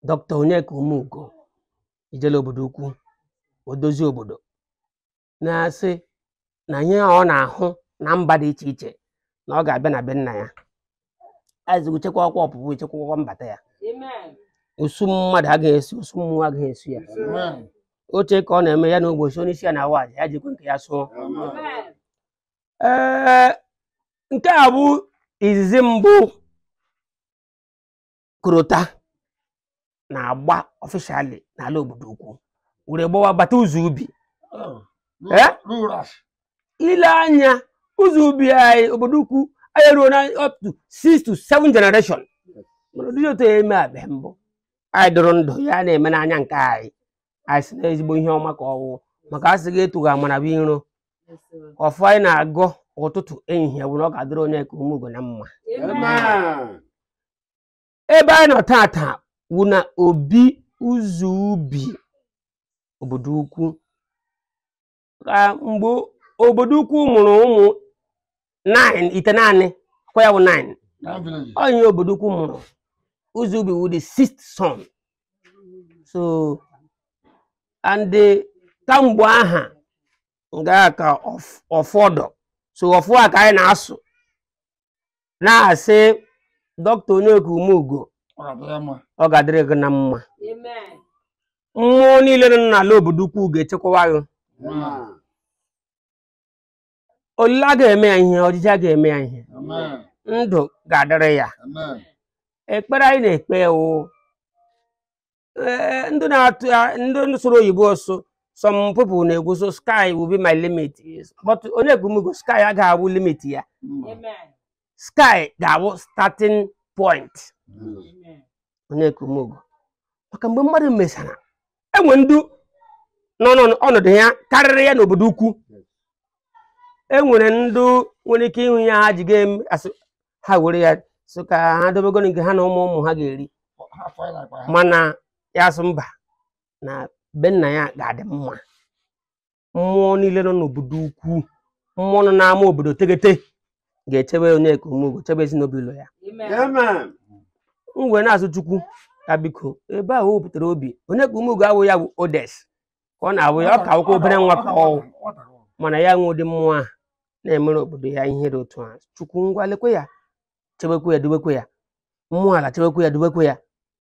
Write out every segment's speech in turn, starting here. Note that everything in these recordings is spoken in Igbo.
dọkịta Onyeka Umeugo ijele obodo ukwu odozi obodo na-asị na ihe ọ na-ahụ na mba dị iche iche na ọ ga-abịa na be nna ya azigo chekwaakwa ọpụpụ chekwaakwa mbata ya usu mmadụ agaghị esi usu mmụọ agaghị esi ya oche ka ọ na-eme ya na ụbọchị onye isi ya na-awa ya jikwa nke ya sụọ ee nke a bụ izizi mbụ korota na-agba officially n'ala obodo ukwu were gbawa bata ụzọ ubi Eh? Ruras. i lee anya ụzọ ubi anyị obodo ukwu anyị ruona up to six to seven generation mana ụdị otu a emebeghị mbụ anyị dụrụ ndụ ya na-eme n'anya nke anyị anyị si na ezigbo ihe ọma ka ọ wụ maka a sị gị etughị amara bụ iro ọfọ anyị na-agọ ụtụtụ ehihie bụ na ọ ga-adịrị Onyeka Umeugo na mma Amen. ebe anyị nọ taata wụ na obi ụzọ ubi obodo ukwu ka mgbe obodo ukwu mụrụ ụmụ nine itenaanị kwa ya bụ nine Nine villages. onye obodo ukwu mụrụ ụzọ ubi wụ the sixth son so and the kamgbe aha nga ka ọf- ọfọ dụ so ọfọ a ka anyị na-asụ na-asị dọkịta Onyeka Umeugo Ọ ga-adị ya mma. ọ ga-adịrị gị na mma Amen. mmụọ niile nọ n'ala obodo ukwu ga-echekwawa gị Amen. ọlịla aga eme ya ihe ojije aga eme ya ihe ndụ ga-adịrị ya ekpere anyị na-ekpe wụ ee, ndị na-atụ ndị sụrụ oyibo sụ some people na-ekwu sụ sky will be my limit but Onyeka Umeugo sky agaghị awụ limit ya sky ga-awụ starting point Onyeka Umeugo maka mgbe mmadụ mesara enwe ndị nọ n'ọnọdụ ya karịrị ya n'obodo ukwu enwere ndị nwere ike ịhụ ya ha ji ga-eme asị ha were ya sụ ka ha dobegoro nke ha na ụmụ ụmụ ha ga-eri mana ya asụ mba na be nna ya ga-adị mma mmụọ niile nọ n'obodo ukwu mmụọ nọ n'ama obodo teghete ga-echebe Onyeka Umeugo chebe ezinụlọ ya Amen. m wee na-asụ chukwu ya biko ebe ahụ o wepụtara obi Onyeka Umeugo awụ ya bụ oldest ka ọ na-awụ ya ọ ka wụkwa obere nwa ka ọ wụ mana ya nwee ụdị mmụọ a na-emere obodo ya ihe dị otu a chukwu ngwa lekwe ya chebekwe ya dubekwe ya mmụọ ala chebekwe ya dubekwe ya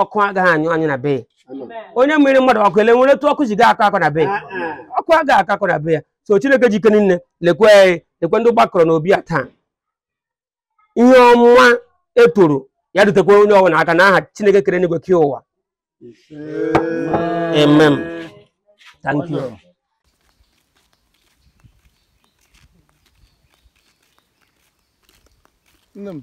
ọkụ agaghị anyụ anyụ na be ya onye mmiri mmadụ ọkụ ele nwere etu ọkụ ji gaa akọ akọ na be ya ọkụ agaghị akọ akọ na be ya so chineke ji ike niile lekwe anyị lekwe ndị gbakọrọ n'obi ya taa ihe ọma e toro ya rutekwa onye ọbụla aka na aha chineke kere enigwe kee ụwa amen thank you Nne m,